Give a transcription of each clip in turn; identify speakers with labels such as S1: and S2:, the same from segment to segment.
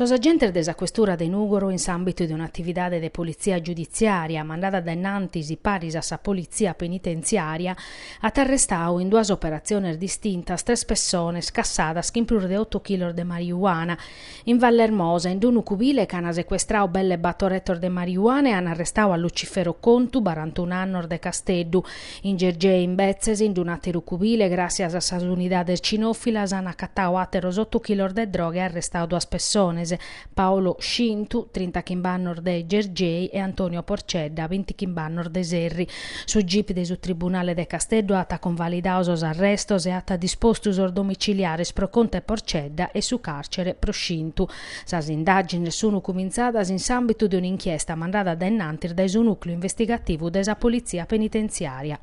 S1: Sos agentes de sa Questura de Nùgoro in s'àmbitu de un'atividade de politzia giuditziària mandada dae innantis paris a sa politzia penitentziària at arrestadu in duas operatziones distintas tres pessones cassadas chin prus de otu chilos de marijuana In Vallermosa, in d-unu cubile ch'ana secuestrau belle batto rettos de mariuana e ana arrestau a Lucifero Contu, barantunu annos, de Casteddu. In Gergei, imbetzes, in d-un'ateru cubile, gràssias a sas unidades cinofilas, ana acatau ateros ottu chilos de droga e arrestau duas pessones, Paolo Scintu, trintachimb'annos, de Gergei, e Antonio Porcedda, bintichimb'annos, de Serri. Su gip de su Tribunale de Casteddu at convalidadu sos arrestos e at dispostu sos domiciliares pro Contu e Porcedda e su càrcere pro Scintu. Sas indàgines sun cumintzadas in s'àmbitu de un'inchiesta mandada dae innantis dae su Nùcleu Investigativu de sa Politzia Penitentziària.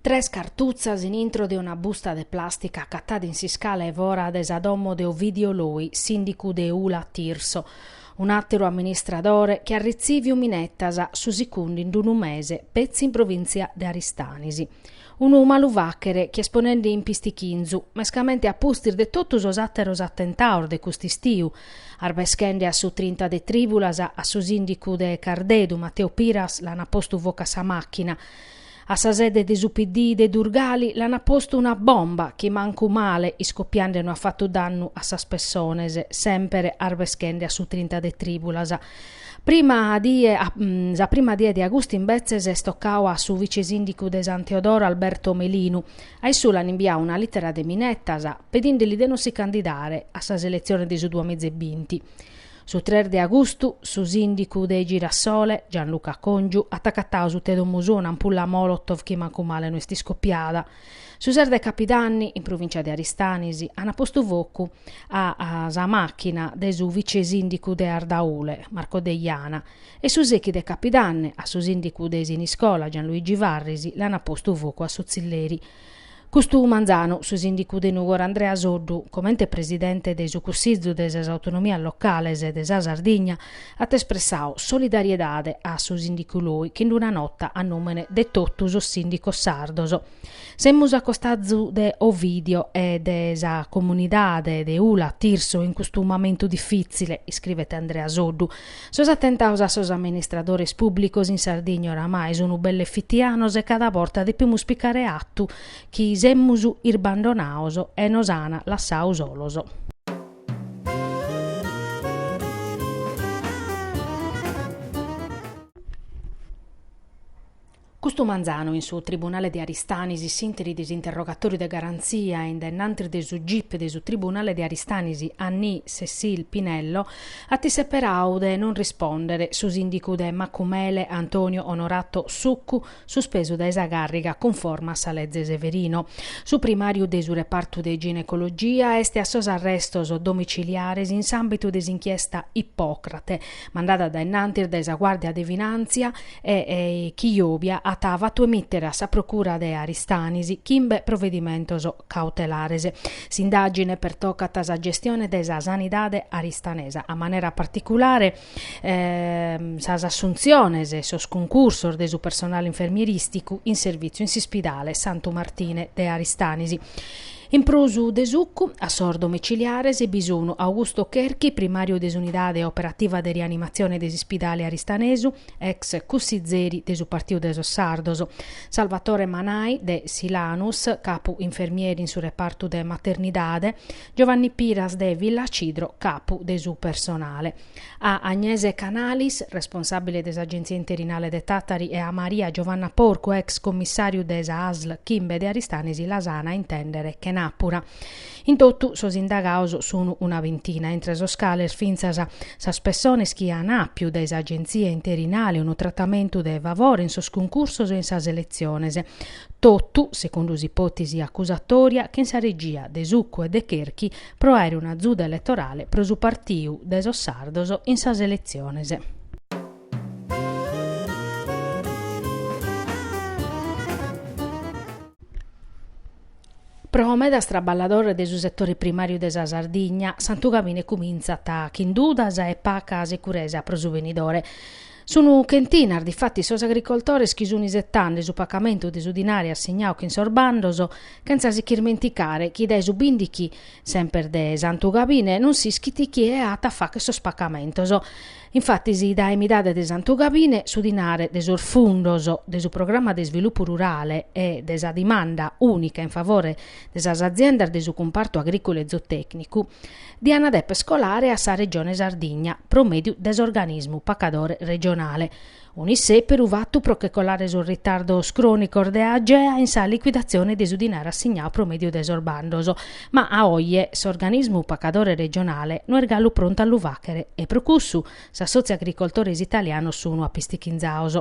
S1: Tres cartutzas in intro de una busta de plàstica acatata in s'iscala 'e fora de sa domo de Ovidio Loi, sìndicu de Ula Tirso. Un'àteru amministradore chi at ritzìviu minetas su sicundu in unu mese petzi in provìntzia de Aristanis. Unu malu fàghere chi est ponende in pistichinzu, mescamente a pustis de totu sos àteros atentados de cust'istiu, arbeschende a su trinta de trìbulas, a su sìndicu de Cardedu, Matteo Piras, l'ant postu focu a sa màchina, A sa sede de su PD de Durgali l'ant postu una bomba chi mancu male iscopiende no at fatu dannu a sas pessones, semper arbeschende a su trinta de trìbulas. Prima die Sa prima die de agustu imbetzes est tocau a su vice-sìndicu de San Teodoro Alberto Melinu. A issu l'ant imbiau una lìtera de minettas pedinde-li de no si candidare a sas eletziones de su duamìgia e binti. Su tres de agustu su sìndicu de Girasole, Gianluca Congiu, at acatau suta 'e domo sua un'ampulla molotov chi mancu male no est iscopiada. Su ses de capidanni, in provìntzia de Aristanis, ant postu focu a sa màchina de su vice-sìndicu de Ardaule, Marco Deiana, e su sechi de capidanni a su sìndicu de Siniscola, Gianluigi Farris, l'ant postu focu a su tzilleri. Custu manzanu, su sìndicu de Nùgoro Andrea Soddu, comente presidente de su Cussizu de sas Autonomias Locales de sa Sardigna, at espressau solidariedade a su sìndicu Loi chin una nota a nùmene de totu sos sìndicos sardos. Semus a costazu de Ovidio e de sa comunidade de Ula Tirso in custu momentu difìtzile, iscrivet Andrea Soddu, Sos atentaus a sos amministradores pùblicos in Sardigna oramai sun belle fitianos e cada borta depimus picare atu chi semus isbandonaos e nos an lassau solos. Custu manzanu in su tribunale de Aristanis s'intèrit s'interrogatòriu de garantzia e in dennantis de su gip de su tribunale de Aristanis Annie Cecile Pinello at isseperau de non rispòndere su sìndicu de Macumele Antonio Onorato Succu suspesu dae sa càrriga cunforma a sa leze Severino. Su primàriu de su repartu de ginecologia est a sos arrestos domiciliares in s'àmbitu de s'inchiesta Ippòcrate mandada dae innantis dae sa Guàrdia de Finàntzia e chi jòbia at fatu emìtere a sa procura de Aristanis chimbe provedimentos cautelares. S'indàgine pertocat sa gestione de sa sanidade aristanesa, a manera particulare sas assuntziones e sos cuncursos de su personale infermierìsticu in servìtziu in s'ispidale Santu Martine de Aristanis. In prus de Succu, a sos domiciliares bi sun Augusto Cherchi, primàriu de s'unidade operativa de rianimatzione de s'ispidale aristanesu, ex cussizeri de su Partiu de sos Sardos, Salvatore Manai, de Silanus, capu infermieri in su repartu de maternidade, Giovanni Piras de Villacidro, capu de su personale. A Agnese Canalis, responsàbile de s'Agenzia interinale de Tàtari e a Maria Giovanna Porcu, ex commissàriu de sa ASL Chimbe de Aristanisi las an a intèndere chenàpura. In totu sos indagaos sun una vintina, intre sos cales fintzas sas pessones chi an àpiu dae s'Agenzia interinale unu tratamentu de favore in sos cuncursos e in sas seletziones. Totu, segundu s'ipòtesi acusatòria, chin sa regia de Succu e de Cherchi pro àere un'azuda eletorale pro su Partiu de sos Sardos in sas eletziones. Pro medas traballadores de su setore primàriu de sa Sardigna, Santugabine cumintzat chin dudas e paca securesa pro su benidore. Sun chentinas difatis sos agricoltores chi sun isetande su pacamentu de su dinare assignau chin sos bandos, chentza si irmenticare chi dae su bìndichi, semper de Santugabine, non s'ischit chie at a fàcher sos pacamentos. Infatis dae midade de Santugabine su dinare de sos fundos de su programma de isvilupu rurale e de sa dimanda ùnica in favore de sas aziendas de su cumpartu agrìculu e zootècnicu, diant deper scolare a sa Regione Sardigna pro mèdiu de s'organismu pacadore regionale. Un'issèperu fatu pro che colare sos ritardos crònicos de Agea in sa liquidatzione de su dinare assignau pro mèdiu de sos bandos. Ma a oje s'organismu pacadore regionale no est galu prontu a lu fàchere e pro cussu s'assòtziu agricoltores italianos sun apistichinzaos.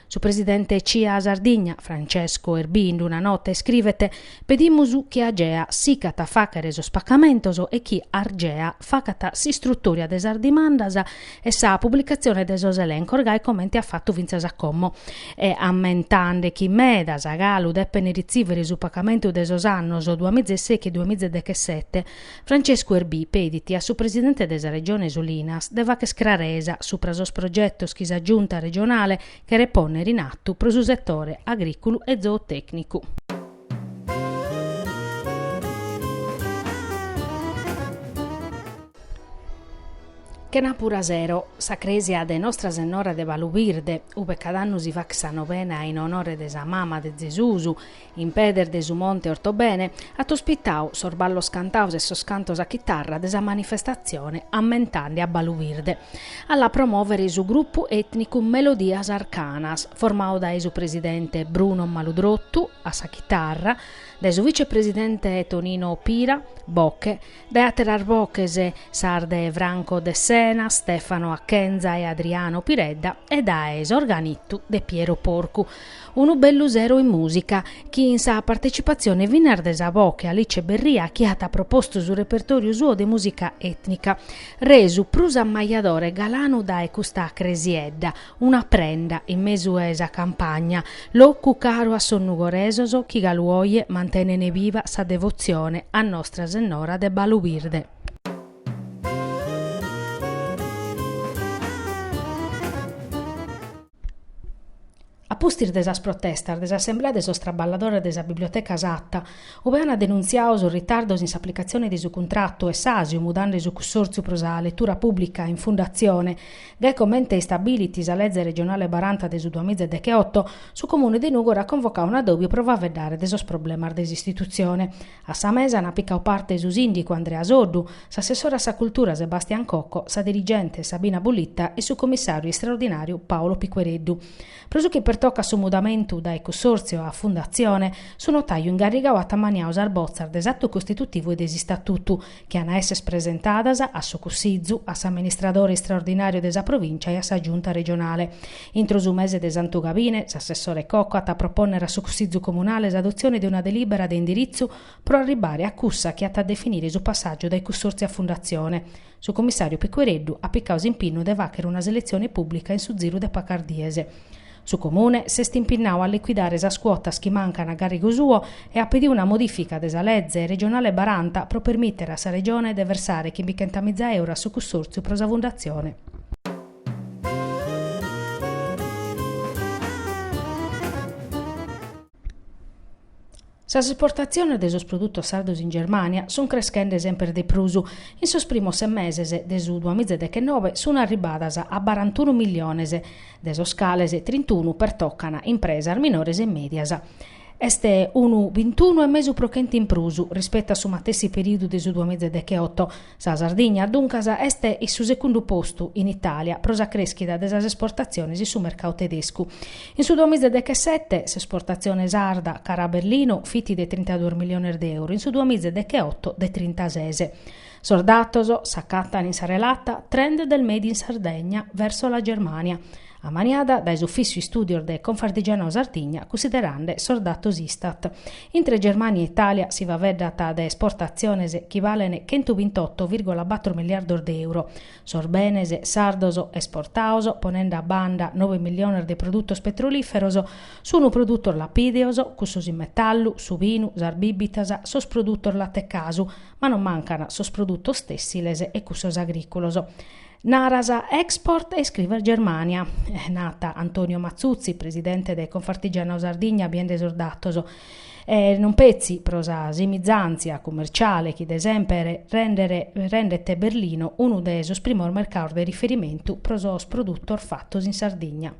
S1: Su presidente CIA Sardigna, Francesco Erbì in una nota iscrivet, Pedimus chi Agea sicat a fàchere sos pacamentos e chi Argea facat s'istrutòria de sas dimandas e sa publicatzione de sos elencos gai comente at fatu fintzas a como e ammentande chi medas a galu depen ritzìvere su pacamentu de sos annos duamiza e sèichi e duamiza e dechesete Francescu Erbì pedit a su presidente de sa Regione Solinas de facher craresa supra sos progetos chi sa Giunta regionale cheret pònnere in atu pro su setore agrìculu e zootècnicu. Chenàpura sero, sa crèsia de Nostra Sennora de Balubirde, ube cada annu si fachet sa novena in onore de sa mama de Zesus, In pedes de su monte Ortobene at ospitau sos ballos cantaos e sos cantos a chitarra de sa manifestatzione ammentande a Balubirde a la promòvere su grupu ètnicu Melodias Arcanas, formau dae su presidente Bruno Maludrottu, a sa chitarra, dae su vicepresidente Tonino Pira, boche, dae àteras boches sas de Franco Dessena, Stefano Achenza e Adriano Piredda e dae s'organittu de Piero Porcu. Unu bellu sero in mùsica, chin sa partecipatzione finas de sa boche Alice Berria chi at propostu su repertòriu suo de mùsica ètnica, resu prus ammajadore e galanu dae custa cresiedda, una prenda in mesu 'e sa campagna, locu caru a sos nugoresos chi galu oje mantenen biva sa devotzione a Nostra Sennora de Balubirde. A pustis de sas protestas de s'assemblea de sos traballadores de sa Biblioteca Satta, ube ant denuntziadu sos ritardos in s'aplicatzione de su cuntratu e s'àsiu mudande su cussòrtziu pro sa letura pùblica in fundatzione, gai comente istabilit sa leze regionale baranta de su duamiza e decheoto, su Comune de Nùgoro at convocadu un'adòbiu pro faveddare de sos problemas de s'istitutzione. A sa mesa ant picau parte su sìndicu Andrea Soddu, s'assessore a sa cultura Sebastian Cocco, sa dirigente Sabina Bullitta e su comissàriu istraordinàriu Paolo Piquereddu. Pro su chi pertocat su mudamentu dae cussòrtziu a fundatzione, su notàiu ingarrigau at ammaniau sas botzas de s'atu costitutivu e de s'istatutu, chi an a esser presentadas a su Cussizu, a s'Amministradore Istraordinàriu de sa Provìncia e a sa Giunta Regionale. Intro su mese de Santu Gabine, s'assessore Cocco at a propònnere a su Cussizu Comunale s'adotzione de una delìbera de indiritzu pro arribare a cussa chi at a definire su passàgiu dae Cussòrtziu a Fundatzione. Su Commissàriu Piquereddu at picau s'impinnu de fàchere una seletzione pùblica in su ziru de pacas dies. Su Comune s'est impinnau a liquidare sas cuotas chi mancan a garrigu suo e at pediu una modifica de sa leze regionale baranta pro permìtere a sa Regione de versare chimbichentamìza euro a su Cussòrtziu pro sa fundatzione Sas esportatziones de sos produtos sardos in Germània sunt creschende semper de prus. In sos primos ses meses de su duamiza e dechenobe sunt arribadas a barantunu milliones, de sos cales trintunu pertocan impresas minores e mèdias. Est unu bintunu e mesu pro chentu in prus, rispetu a su matessi perìodu de su duamiza e decheoto, Sa Sardigna, duncas, est in su secundu postu in Itàlia pro sa crèschida de sas esportatziones in su mercadu tedescu. In su duamiza dechesete, s'esportatzione sarda cara a Berlino fit de trintaduos miliones de euro, in su duamiza decheoto de trintases. Sos datos s'acatan in sa relata Trend del Made in Sardegna verso la Germania, ammaniada dae s'Ufìssiu Istùdios de Confartigianau Sardigna cunsiderande sos datos Istat. Intre Germània e Itàlia si faveddat de esportatziones chi balent chentu bintotto vìrgula battru miliardos de euro. Sos benes sardos esportaos, ponende a banda nobe miliones de produtos petrolìferos, sunt produtos lapìdeos, cussos in metallu, su binu, sas bìbitas, sos produtos latecasu, ma non mancant sos produtos tèssiles e cussos agrìculos. Naras export e iscrives Germania, nat Antonio Matzutzi, presidente de Confartigianau Sardigna biende sos datos. E non petzi pro sa simizàntzia cummerciale chi de semper rendet Berlino unu de sos primos mercados de riferimentu pro sos produtos fatos in Sardigna.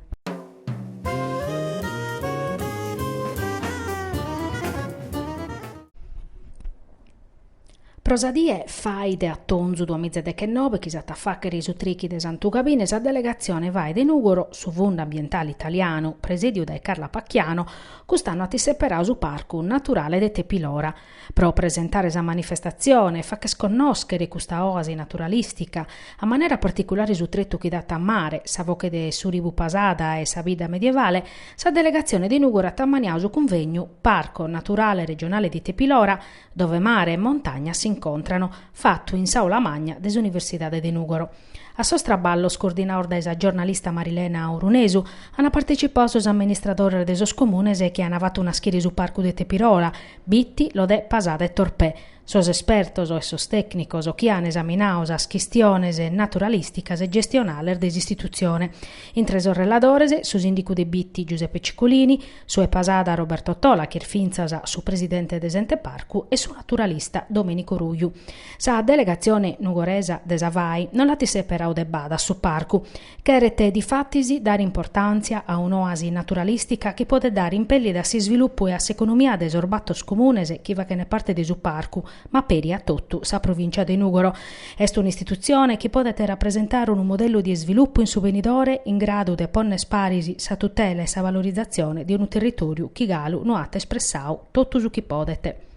S1: Pro sa die FAI de atonzu duamiza e dechenobe chi s'at a fàchere su trichi de Santu Gabine sa delegatzione FAI de Nùgoro, su Fundu Ambientale Italianu, presediu dae Carla Pacchiano, cust'annu at isseperau su Parcu naturale de Tepilora. Pro presentare sa manifestatzione e fàcher connòschere custa òasi naturalìstica, a manera particulare su tretu chi dat a mare, sa foche de su ribu Pasada e sa bidda medievale, sa delegatzione de Nùgoro at ammaniau su cunvegnu Parco naturale regionale di Tepilora, dove mare e montagna s'incontrano, fatu in s'Aula Magna de s'Universidade de Nùgoro. A sos traballos, coordinados dae sa giornalista Marilena Orunesu, ant partetzipau sos amministradores de sos comunes chi ant fatu naschire su Parcu de Tepirola, Bitti, Lodè, Pasada e Torpè, sos espertos e sos tècnicos chi ant esaminau sas chistiones naturalìsticas e gestionales de s'istitutzione, intre sos reladores, su sìndicu de Bitti, Giuseppe Ciccolini, Su 'e Pasada Roberto Tola ch'est fintzas su presidente de s'Ente Parcu e su naturalista Domenico Ruju. Sa delegatzione nugoresa de sa FAI no l'at seperau de bada a su parcu. Cheret difatis dare importàntzia a un'oasi naturalìstica chi podet dare impèllida a s'isvilupu e a s'economia de sos bator comunes chi faghent parte de su parcu, ma peri a totu sa Provìncia de Nùgoro. Est un'istitutzione chi podet rapresentare unu modellu de isvilupu in su benidore in gradu de pònnere paris sa tutela e sa valorizatzione de unu territòriu chi galu no at espressau totu su chi podet.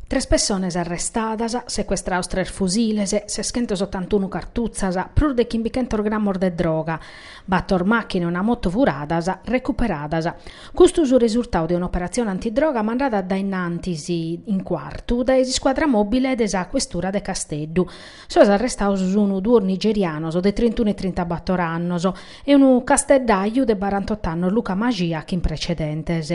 S1: Tres pessones arrestadas, secuestraos tres fusiles, seschentos otantunu cartutzas, prus de chimbichentos grammos de droga, bator màchinas e una moto furadas, recuperadas. Custu su resurtau de un'operatzione antidroga mandada dae innantis in Cuartu dae s'iscuadra mobile de sa questura de Casteddu. Sos arrestados sunu duos nigerianos de trintunu e trintabator annos e unu casteddaju de barantot'annos Luca Maxia chin precedentes.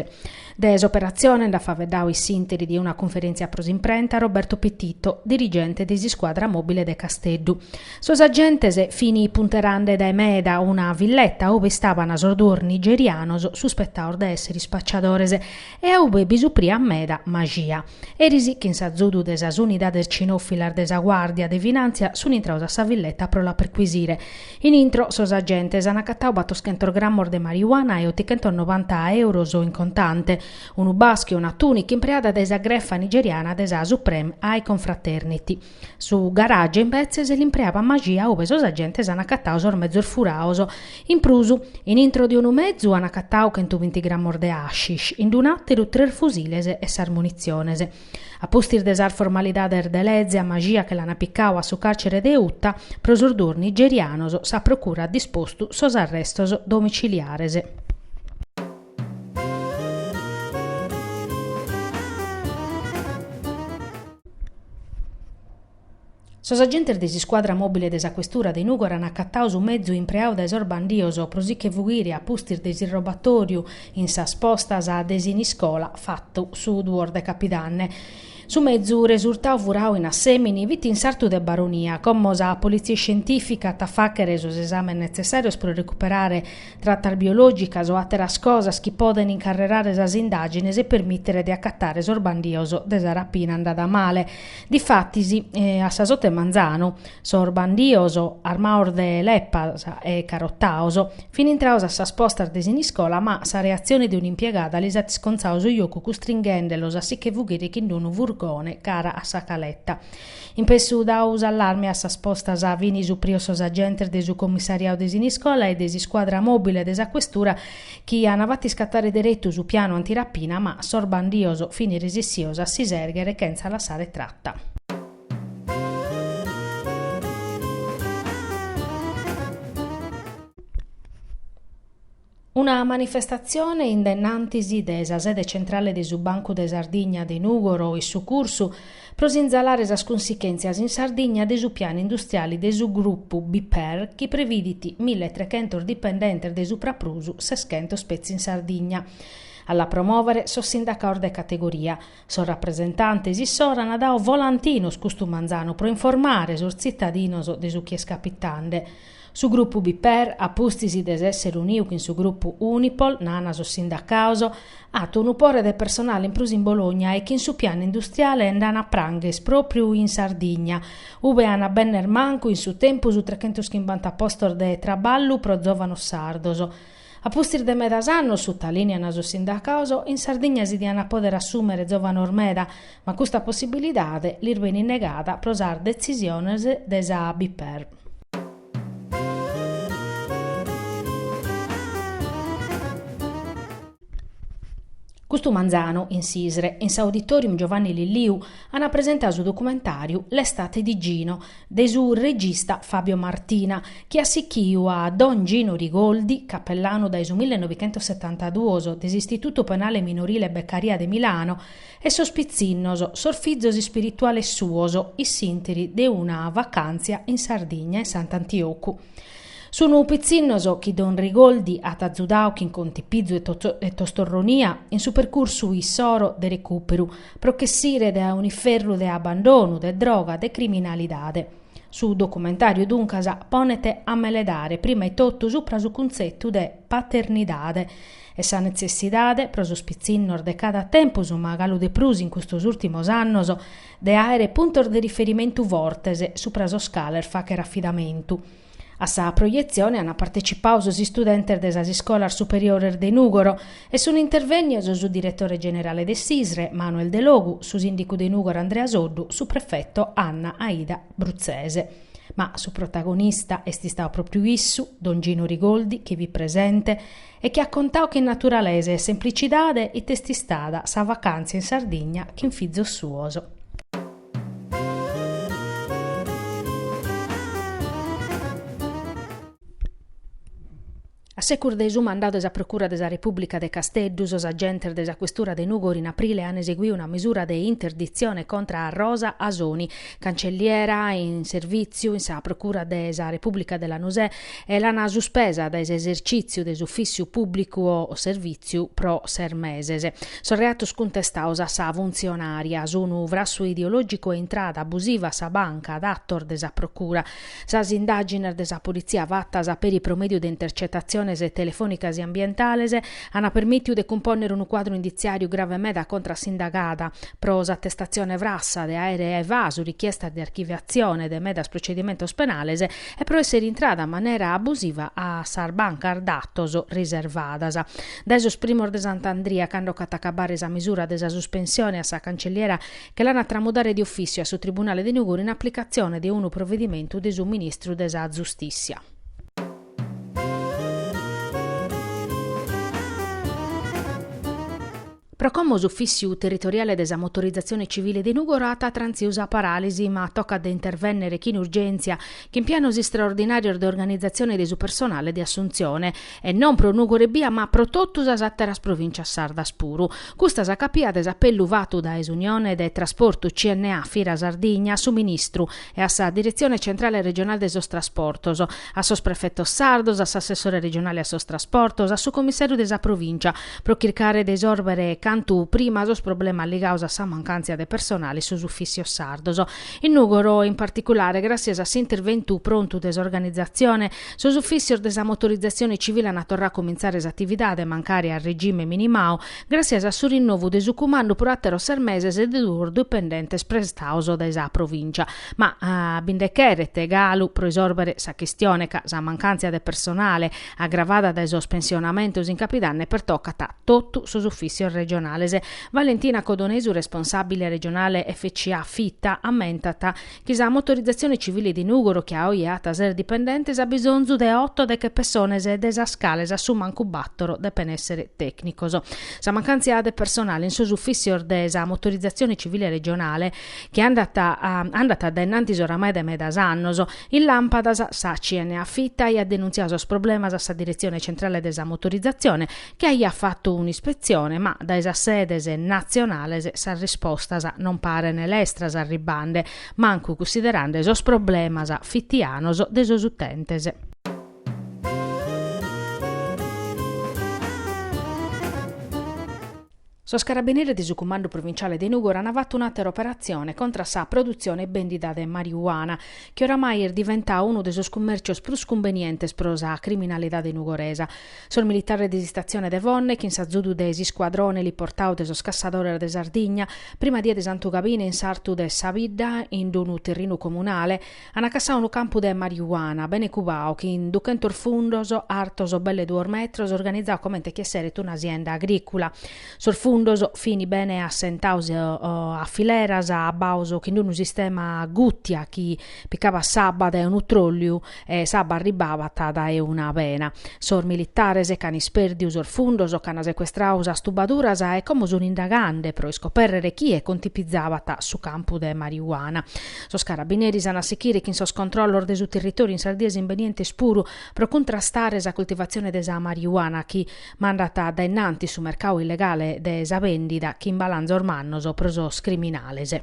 S1: De s'operatzione nd'at faeddau in s'interi de una cunferèntzia pro s'imprenta Roberto Pititto, dirigente de s'iscuadra mòbile de Casteddu. Sos agentes fin punteriande dae meda una villeta ue istaban sos duos nigerianos suspetaos de èssere ispacciadores e a ue bi supriat meda Maxia. Eris, chin s'azudu de sas unidades cinòfilas de sa guàrdia de finàntzia, sun intraos a sa villeta pro la perquisire. In intro sos agentes an acatau batoschentos grammos de marijuana e otochentos novanta euros in contante, unu baschiu e una tùnica impreada dae sa grefa nigeriana de sa Supreme Eiye Confraternity. Su garage imbetzes l'impreabat Maxia ue sos agentes an acatau sos mezos furaos. In prus, in intro de unu mezu an acatau chentu binti grammos de hashish, in d'un'àteru tres fusiles e sas munitziones. A pustis de sas formalidades de leze a Maxia che l'an picau a su càrcere de Uta, pro sos duos nigerianos sa procura at dispostu sos arrestos domiciliares. Sos agentes de s'iscuadra mòbile de sa questura de Nùgoro an acatadu su mezu impreadu dae sos bandidos pro si che fughire a pustis de s'irrobatòriu in sas postas de Siniscola, fatu su duos de capidanne. Su mezu resurtadu furadu in Assèmini fit in sartu de Baronia, como sa polìtzia iscientìfica at a fàghere sos esàmes netzessàrios pro recuperare tratas biològicas o àteras cosas chi podent incarrerare sas indàgines e permìtere de acatare sos bandidos de sa rapina andada male. Difatis, a sas ote 'e manzanu, sos bandios, armados de leppas e carotados, fin intrados a sas postas de Siniscola ma sa reatzione de un'impiegada lis at iscontzadu su jocu custringhendelos a si che fughire chin d'unu furgone cara a Sa Caletta. Impessu dadu s'allarme a sas postas fin suprios sos agentes de su commissariadu de Siniscola e de s'iscuadra mobile de sa questura chi an fatu iscattare derettu su pianu antirapina ma sos bandios fini resissios a si serghere chentza lassare tratta. Una manifestatzione in denantis de sa sede centrale de su Bancu de Sardigna de Nùgoro in su Cursu pro sinzalare sas consichèntzias in Sardigna de su pianu industriale de su grupu BPER chi previdit mille e trechentos dipendentes de su praprus seschentos petzi in Sardigna. A la promòvere sos sindacados de categoria. Sos rapresentantes issoro ant dadu volantinos custu manzanu pro informare sos tzitadinos de su chi est capitande. Su grupu BPER, a pustis de s'èssere uniu chin su grupu Unipol, nana sos sindacaos, at unu pore de personale in prus in Bologna e chin su pianu industriale nd'an a prangher pròpriu in Sardigna, ube an a benner mancu in su tempus trechentos chimbanta postos de traballu pro zòvanos sardos. A pustis de medas annos, sutalìnean sos sindacados, in Sardigna si diant pòdere assùmere zòvanos meda, ma custa possibilidade lis benit negada pro sas detzisiones de sa BPER. Custu manzanu, in s'ISRE, in s'Auditorium Giovanni Lilliu, ant presentadu su documentàriu L'estate di Gino, de su regista Fabio Martina, chi at sichiu a don Gino Rigoldi, capellanu dae su millenovichentossetantaduos de s'Istitutu Penale Minorile Beccaria de Milano, e sos pitzinnos, sos fizos ispirituales suos, in s'ìnteri de una vacàntzia in Sardigna, in Sant'Antiocu. Sun pitzinnos chi don Rigoldi at azudau chin contipizu e tostorronia in su percursu issoro de recùperu, pro ch'essire dae un'iferru de abbandonu, de droga, de criminalidade. Su documentàriu duncas ponet a meledare prima etotu supra su cuntzetu de paternidade e sa netzessidade, pro sos pitzinnos de cada tempus ma galu de prus in custos ùltimos annos, de àere puntos de riferimentu fortes supra sos cales fàghere afidamentu. A sa proietzione ant partecipau sos istudentes de sas iscolas superiores de Nùgoro e sunt intervènnios su diretore generale de s'ISRE, Manuel Delogu, su sìndicu de Nùgoro Andrea Soddu, su prefeto Anna Aida Bruzzese. Ma su protagonista est istau pròpiu issu, don Gino Rigoldi, chi fit presente e chi at contau chin naturalesa e semplicidade ite est istada sa vacàntzia in Sardigna chin fizos suos. A secus de su mandadu de sa Procura de sa Repùblica de Casteddu, sos agentes de sa questura de Nugori in aprile ant eseguiu una misura de interditzione contra a Rosa Asoni, cancelliera in servìtziu in sa Procura de sa Repùblica de Lanusè, e l'ana suspesa dae s'esercìtziu de s'ufìssiu pùblicu o servìtziu pro ses meses. Sos reatos cuntestaos a sa funtzionària sunu frassu ideològicu e intrada abusiva a sa banca datos de sa procura. Sas indàgines de sa politzia fatas peri pro mèdiu de intercetatziones telefònicas e ambientales ana permìtiu de cumpònnere unu cuadru inditziàriu grave meda contra s'indagada pro s'atestatzione frassa de àere evasu richiestas de archiviatzione de medas procedimentos penales e pro essere intrada a manera abusiva a sas bancas datos riservadas. Dae sos primos de Sant'Andria, cando ch'at a acabare sa misura de sa suspensione a sa Cancelliera che l'an a tramudare de ofìtziu a su Tribunale de Nugoro in aplicatzione de unu provedimentu de su Ministru de sa Zustìtzia. Pro como s'Ufìssiu Territoriale de sa Motorizatzione Civile de Nùgoro at trantziu sa paràlisi, ma tocat de intervènnere chin urgèntzia, chin pianos istraordinàrios de organizatzione de su personale de assuntzione, e non pro Nùgoro ebbia ma pro totu sas àteras provìncias sardas puru. Custa sa càpia de s'apellu fatu dae s'Unione de Trasportu CNA Fita Sardigna a su Ministru e a sa Diretzione Centrale Regionale de sos Trasportos, a sos prefetos sardos, a s'assessore regionale a sos trasportos, a su commissàriu de sa provìncia, pro chircare de sòrbere cantu prima sos problemas ligaos a sa mancàntzia de personale in sos ufìtzios sardos. In Nùgoro, in particulare, gràtzias a s'interventu prontu de s'organizatzione, sos ufìtzios de sa motorizatzione civile ant torrau a comintzare s'atividade, mancari a regime minimau, gràtzias a su rinnovu de su cumandu pro àteros ses meses de duos dipendentes prestaos dae sa provìncia. Ma bi nde cheret galu pro isòrbere sa chistione ca sa mancàntzia de personale, agravada dae sos pensionamentos in Capidanne, pertocat totu sos ufìssios regionales. Valentina Codonesu, responsàbile regionale FCA Fita, ammentat chi sa motorizatzione civile de Nùgoro, chi a oe at ses dipendentes, at bisonzu de oto deche pessones de sas cales a su mancu bàtoro depent èssere tècnicos. Sa mancàntzia de personale in sos ufìssios de sa motorizatzione civile regionale, chi andat andat addaennantis oramai dae medas annos, in Làmpadas sa CNA Fita aiat denuntziau sos problemas a sa Diretzione Centrale de sa Motorizatzione chi aiat fatu un'ispetzione ma dae sas sedes natzionales sas rispostas non parene lestras arribbande mancu cussiderande sos problemas fitianos de sos utentes. Sos carabineris de su Cumandu Provinciale de Nùgoro ant fatu un'àtera operatzione contra sa produtzione e bèndida de marijuana, chi oramai est diventada unu de sos cummèrcios prus cumbenientes pro sa criminalidade nugoresa. Sos militares de s'istatzione de Fonne, chin s'azudu de s'iscuadrone eliportau de sos Cassadores de Sardigna, prima die de Santu Gabine in sartu de sa bidda, in unu terrinu comunale, An cassau unu campu de mariuana, bene cubau, chin duchentos fundos, artos belle duos metros, organizau comente chi esseret una sienda agricula. Sos fundos fini bene assentaus a fileras, abbaus chin unu sistema a guttia chi picabat s'abba dae unu trolliu e s'abba arribbabat dae una bena. Sos militares ch'an ispèrdiu sos fundos, ch'an secuestrau sas tubaduras e como sun indagande pro iscoperrere chie contipizabat su campu de mariuana. Sos carabineris an a sichire chin sos controllos de su territoriu in sas dies imbenientes puru pro cuntrastare sa cultivazione de sa marijuana chi mandat dae innantis su mercadu illegale de sa bèndida chin balanzos mannos pro sos criminales.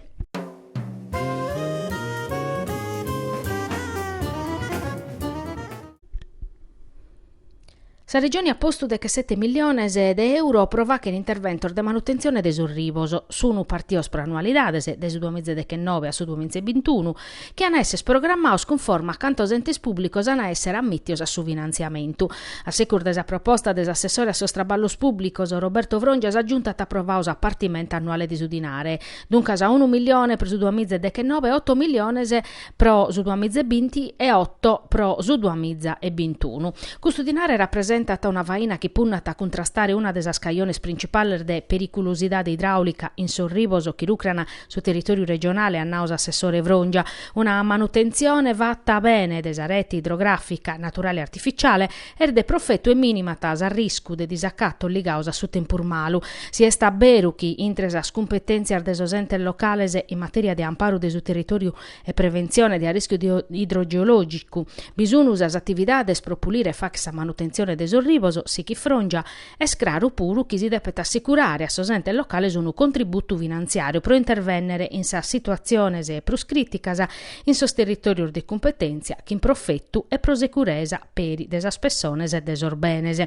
S1: Sa Regione at postu dechesete milliones de euro pro fàchere interventos de manutentzione de sos ribos, sunu partios pro annualidades, de su duamiza e dechennoe a su duamiza e bintunu, chi an a èssere programmaos cunforma a cantos entes pùblicos an a èssere ammìtios a su finantziamentu. A secus de sa proposta de s'assessore a sos traballos pùblicos, Roberto Frongia sa Giunta at aprovau sa partimenta annuale de su dinare, duncas unu milione pro su duamiza e dechennoe e oto milliones pro su duamiza e binti e oto pro su duamiza e bintunu. Custu dinare rapresentat una faina chi punnat a cuntrastare una de sas cajones printzipales de periculusidade idraulica in sos ribos chi rucran su territòriu regionale, at nau s'assessore Frongia. Una manutentzione fata bene de sa rete idrogràfica naturale e artificiale, Est de profetu e minimat s'arriscu de disacatos ligaos a su tempus malu. Si est a beru chi intre sas cumpetèntzias de sos entes locales in matèria de amparu de su territòriu e preventzione de arrischiu idrogeològicu bi sun sas atividades pro pulire e fagher sa manutentzione de sos ribos sighit Frongia, est craru peri chi si depet assicurare a sos entes locales unu contributu finantziàriu pro intervènnere in sas situatziones prus crìticas in sos territòrios de cumpetèntzia chin profetu e pro seguresa. peri de sas pessones e de sos benes.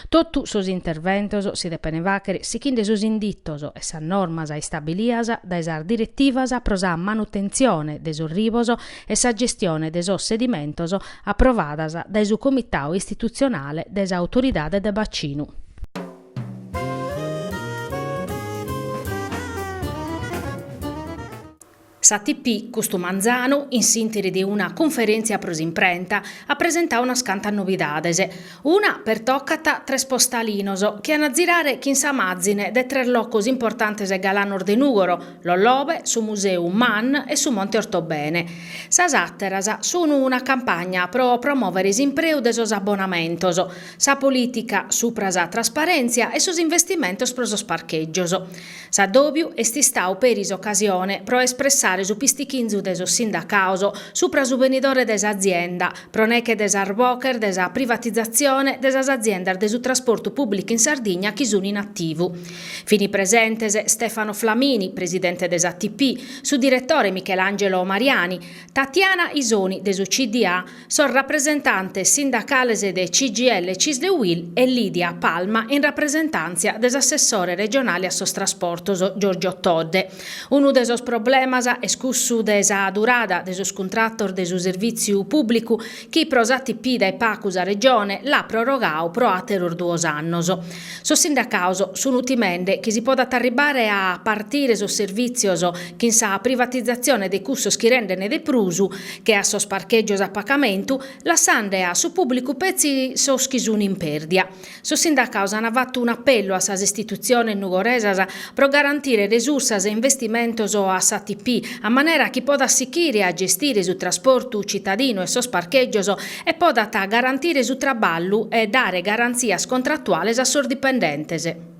S1: Totu sos interventos si depene faghere sighinde sos inditos e sas normas istabilias dae sas direttivas pro sa manutentzione de sos ribos e sa gestione de sos sedimentos aprovadas dae su Comitau Istitutzionale de sa Autoridade de Bacinu. S'ATP, custu manzanu, in s'interi de una cunferèntzia pro s'imprenta, at presentau unas cantas nobidades. Una pertocat tres postalinos chi an a zirare chin sa màzine de tres locos importantes e galanos de Nùgoro, Lollobe, su Museu MAN e su Monte Ortobene. Sas àteras sun una campagna pro promòvere s'impreu de sos abonamentos, sa polìtica supra sa trasparèntzia e sos investimentos pro sos parchègios. S'addòbiu est istau peri s'ocasione pro espressare su pistichinzu de sos sindacaos supra su benidore de s'azienda, pro neche de sas boches de sa privatizatzione de sas aziendas de su trasportu pùblicu in Sardigna chi sun in ativu. Fin presentes Stefano Flamini, presidente de s'ATP, su diretore Michelangelo Mariani, Tatiana Isoni de su CDA, Sos rapresentantes sindacales de CGIL, CISL e UIL e Lidia Palma in rapresentàntzia de s'assessore regionale a sos trasportos Giorgio Todde. Unu de sos problemas est cussu de sa durada de sos cuntratos de su servìtziu pùblicu chi pro s'ATP dae pacu sa Regione l'at prorogau pro àteros duos annos. Sos sindacaos sun timende chi si podat arribare a partire sos servìtzios chin sa privatizatzione de cussos chi renden de prus che a sos parchègios a pacamentu, lassande a su pùblicu petzi sos chi sun in pèrdia. Sos sindacaos an fatu un'apellu a sas istitutziones nugoresas pro garantire resursas e investimentos a s'ATP a manera chi podat sichire a gestire su trasportu citadinu e sos parchègios e podat garantire su traballu e dare garantzias contratuales a sos dipendentes.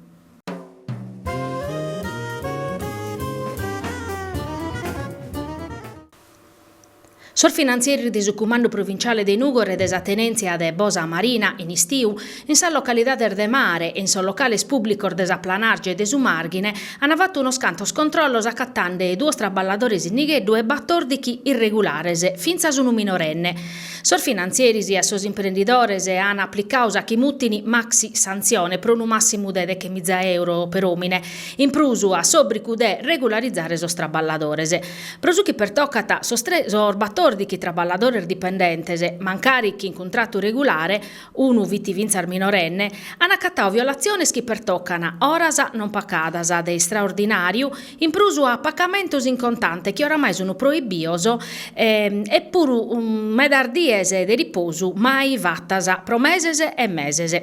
S1: Sos finantzieris de su Cumandu Provinciale de Nùgoro e de sa Tenèntzia de Bosa Marina in istiu In sas localidades de mare e in sos locales pùblicos de sa Planàrgia e de su Màrghine ant fatu unos cantos controllos acatende duos traballadores in nigheddu e batòrdighi irregulares, fintzas unu minorenne. Sos finantzieris a sos imprendidores ant aplicadu su chi mutin maxi santzione pro unu màssimu de deghe miza euro per òmine, in prus a s'òbrigu de regularizare sos traballadores. Pro su chi pertocat sos tres sos batòrdighi traballadores dipendentes, mancari chin cuntratu regulare, unu fit fintzas minorenne, an acatadu violatziones chi pertocan oras non pacadas de istraordinàriu, in prus a pacamentos in contante chi oramai sunt proibidos e puru medas dies de riposu mai fatas pro meses e meses.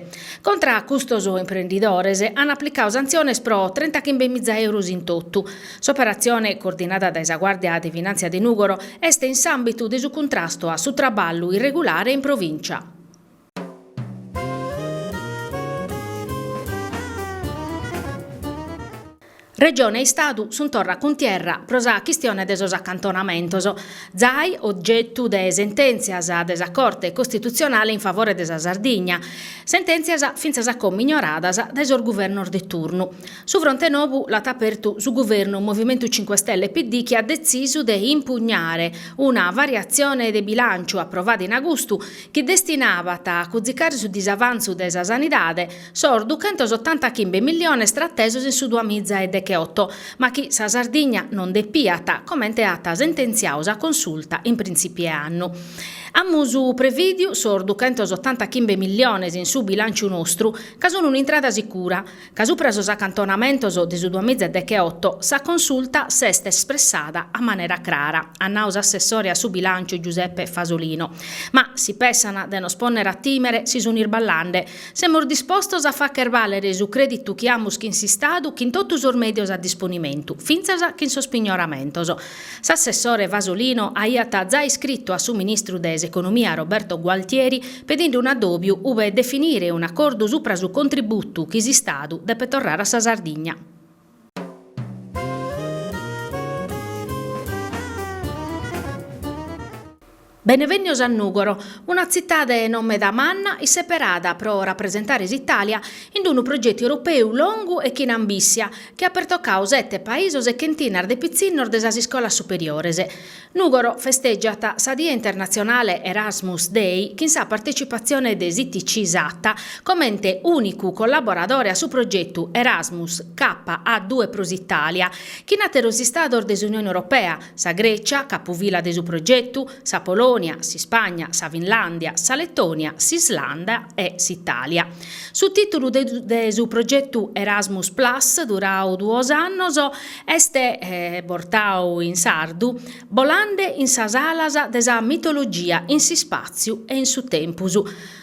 S1: Contra a custos imprendidores an aplicadu santziones pro trentachimbe miza euros in totu. S'operatzione, coordinada dae sa Guàrdia de Finàntzia de Nùgoro, est in s'àmbitu de su cuntrastu a su traballu irregulare in provìncia. Regione e Istadu sunt torra in cuntierra pro sa chistione de sos acantonamentos. Zai, ogetu de sentèntzias de sa Corte costitutzionale in favore de sa Sardigna, sentèntzias fintzas a como ignoradas dae sos guvernos de turnu. Su fronte nobu l'at apertu su guvernu Movimentu Cinque Stelle-PD chi at detzisu de impugnare Una variatzione de bilànciu aprovada in agustu chi destinabat a cuzicare su disavantzu de sa sanidade sos duchentosottantachimbe milliones tratesos in su duamiza e decheoto, ma chi sa Sardigna non depiat, comente at sententziadu sa Consulta in printzìpiu 'e annu. Amus prevìdiu sos duchentosottantachimbe milliones in su bilànciu nostru, ca sunt un'intrada sicura. Ca supra sos acantonamentos de su duas miza e decheoto sa Consulta s'est espressada a manera crara, at nau s'assessore a su bilànciu Giuseppe Fasolino, ma si pensant de nos pònnere a tìmere si sunt isballande, semus dispostos a fàghere bàlere su crèditu chi amus chin s'Istadu chin totu sos mèdios a disponimentu, fintzas chin sos pignoramentos. S'assessore Fasolino aiat giai iscritu a su ministru de s'Economia Roberto Gualtieri pedinde un addòbiu ube definire un'acordu supra su contributu chi s'Istadu depet torrare a sa Sardigna. Benevènnios a Nùgoro, una tzitade non meda manna, isseperada pro rapresentare s'Itàlia in unu progetu europeu longu e chin ambìssia, chi at pertocadu sete paisos e chentinas de pitzinnos de sas iscolas superiores. Nùgoro festègiat sa die internatzionale Erasmus Day chin sa partecipatzione de s'ITC Sata comente ùnicu collaboradore a su progetu Erasmus Kappa A Due pro s'Italia, chin àteros Istados de s'Unione Europea, sa Grècia, capufila de su progetu, sa Polònia, s'Ispagna, sa Finlàndia, sa Letònia, s'Islanda e s'Itàlia. Su tìtulu de su progetu Erasmus Plus, durau duos annos, Est bortau in sardu Bolande in sas alas de sa mitologia in s'ispàtziu e in su tempus.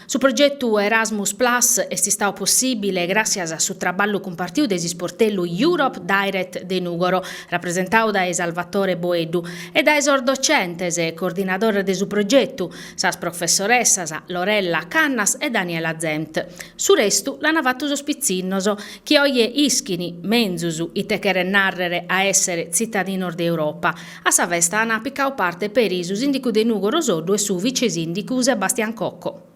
S1: Su progetu Erasmus Plus est istadu possìbile gràssias a su traballu cumpartiu de s'isportellu Europe Direct de Nùgoro, rapresentau dae Salvatore Boeddu, e dae sos docentes e coordinadores de su progetu, sas professoressas Lorella Cannas e Daniela Zempt. Su restu l'ant fatu sos pitzinnos, chi oje ischin menzus ite cheret nàrrere a èssere tzitadinos de Europa. A sa festa ant picau parte peri su sìndicu de Nùgoro Soddu e su vice-sìndicu Sebastian Cocco.